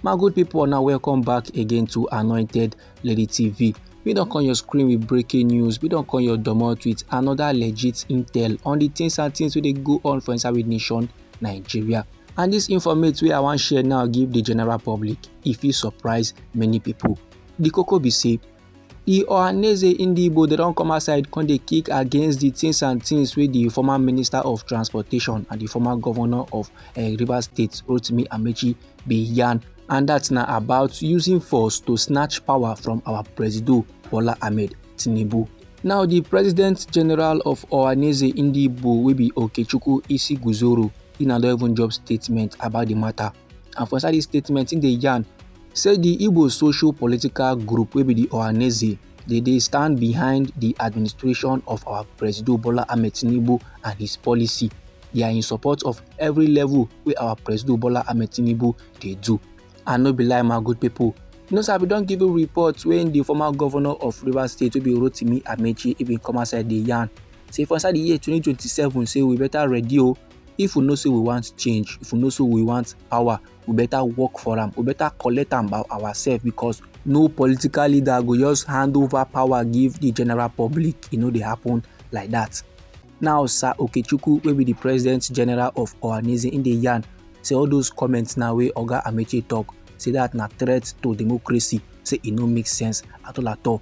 my good people now welcome back again to anointed lady tv we don't come your screen with breaking news we don't come your domot with another legit intel on the things and things wey dey go on for inside with nation nigeria and this informate wey i wan share now give the general public If fit surprise many people. the koko be say E Ohaneze Ndigbo dey don come outside come dey kick against the things and things wey the former minister of transportation and the former governor of uh, Rivers State Rotimi Amechi bin yarn and that na about using force to snatch power from our presido Bola Ahmed Tinubu. Now the president general of Ohaneze Ndigbo wey be Okechukwu Isiguzoro he na don even drop statement about the matter. and for inside dis statement im dey yarn say di igbo social political group wey be di ohaneze dey dey stand behind di administration of our presido bola ahmed tinubu and his policy they are in support of every level wey our presido bola ahmed tinubu dey do and no be lie my good people you know sir we don give you report when the former governor of rivers state wey be rotimi amechi he bin come outside dey yarn say for inside the year 2027 say we better ready o oh, if we know say we want change if we know say we want power we better work for am we better collect am by ourselves because no political leader go just hand over power give the general public e no dey happen like that. now sir okechukwu wey be the president general of ohanaeze im dey yarn say all those comments na wey oga amechi talk say that na threat to democracy say e no make sense at all at all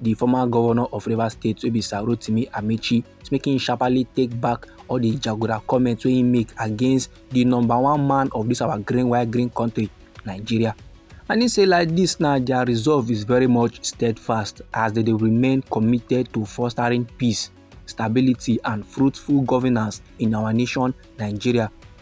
di former governor of rivers state wey be sir rotimi amechi make im sharply take back all di jaguda comments wey im make against di number one man of dis our green white green country nigeria and he say like this now their resolve is very much steadfast as they, they remain committed to fostering peace stability and fruitful governance in our nation nigeria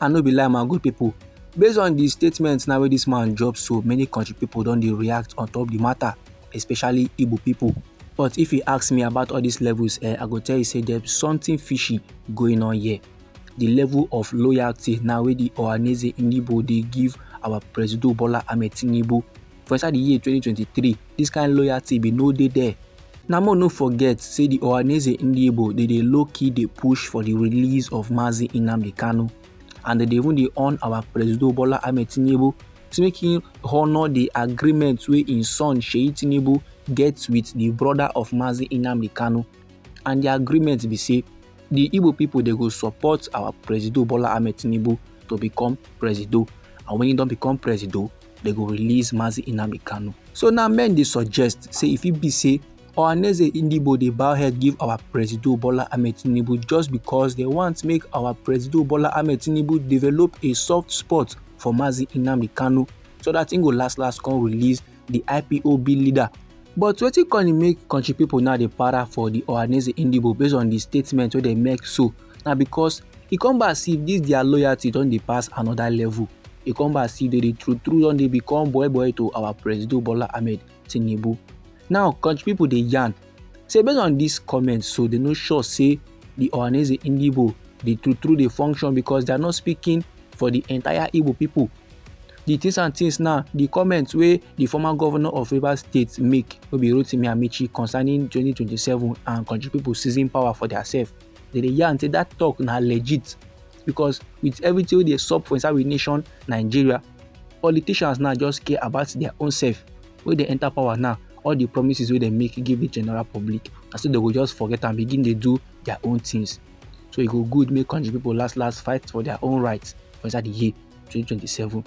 and no be lie my good people based on the statement now wey this man drop so many country people don dey react on top the matter especially igbo people but if you ask me about all these levels eh, i go tell you say there's something fishy going on here the level of loyalty now wey the ohaneze ndigbo dey give our presido bola ahmed tinubu for inside di year 2023 dis kind loyalty bin no dey there na more no forget say di ohaneze ndiebo dey dey low key dey push for di release of mazi nnamdi kanu and dem dey even dey on our presido bola ahmed tinubu to make him honour di agreement wey im son sheyi tinubu get wit di brother of mazi nnamdi kanu and di agreement be say di igbo pipo dey go support our presido bola ahmed tinubu to become presido and wen e don become presido dem go release Mazi Inami Kanu. So now men dey suggest say if it be say Ohaneze Ndigbo dey bow head give our Presido Bola Ahmed Tinubu just because they want make our Presido Bola Ahmed Tinubu develop a soft spot for Mazi Inami Kanu so that im go last last come release the IPOB leader. But wetin come make country people now dey para for the Ohaneze Ndigbo based on the statement wey dem make so na because e come be as if this their loyalty don dey pass another level e come be as if they dey true true don dey become boy boy to our president bola ahmed tinubu now country people dey yarn say based on this comment so they no sure say the ohaneze indibo dey true true dey function because they are not speaking for the entire igbo people the things and things now the comments wey the former governor of rivers state make wey be rotimi amechi concerning 2027 and country people seizing power for their self dem dey yarn say that talk na legit because with everything wey dey sup for inside we nation nigeria politicians now just care about their own self wey dey enter power now all the promises wey dem make give the general public na so dem go just forget am begin dey do their own things so e go good make country people last last fight for their own rights for inside the year 2027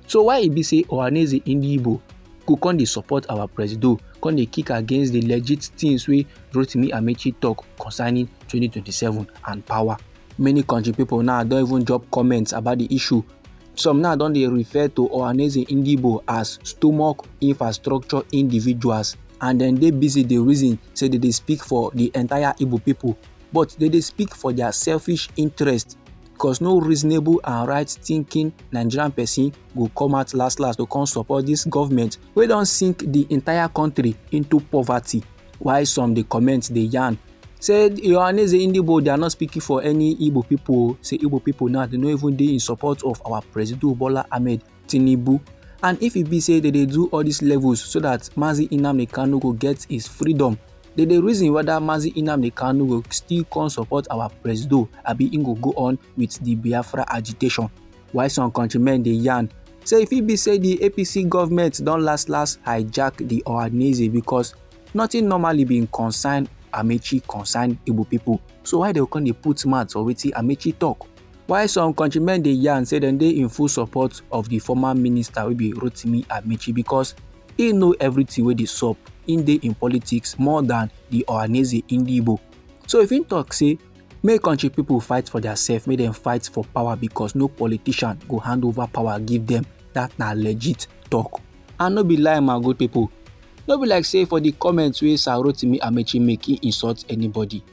so why e be say ohaneze ndigbo go come dey support our presido come dey kick against the legit things wey rotimi amechi talk concerning 2027 and power many country people now don even drop comments about the issue some now don dey refer to ohaneze ndigbo as stomach infrastructure individuals and dem dey busy dey reason say dem dey speak for the entire igbo people but dem dey speak for their selfish interest because no reasonable and right thinking nigerian person go come out last last to come support this government wey don sink the entire country into poverty while some dey comment dey yarn say yohaneze indibo they are not speaking for any igbo people say igbo people now they no even dey in support of our president bola ahmed Tinubu and if e be say they dey do all these levels so that Mazi Nnamdi Kanu go get his freedom they dey reason whether Mazi Nnamdi Kanu go still come support our presido abi he go go on with the Biafra agitation while some countrymen dey yarn say if e be say the APC government don last last hijack the Ohaneze because nothing normally been concern Amechi concern Igbo people so why they come dey put mouth for wetin Amechi talk While some countrymen dey yarn say dem dey in full support of di former minister wey be Rotimi Amaechi because e know everything wey dey sup, im dey in politics more than di Ohanaeze Ndigbo. So if im talk say make country people fight for theirself, make dem fight for power because no politician go hand over power give dem, that na legit talk. And no be lie my good people, no be like say for di comments wey Sir Rotimi Amaechi make, he insult anybody.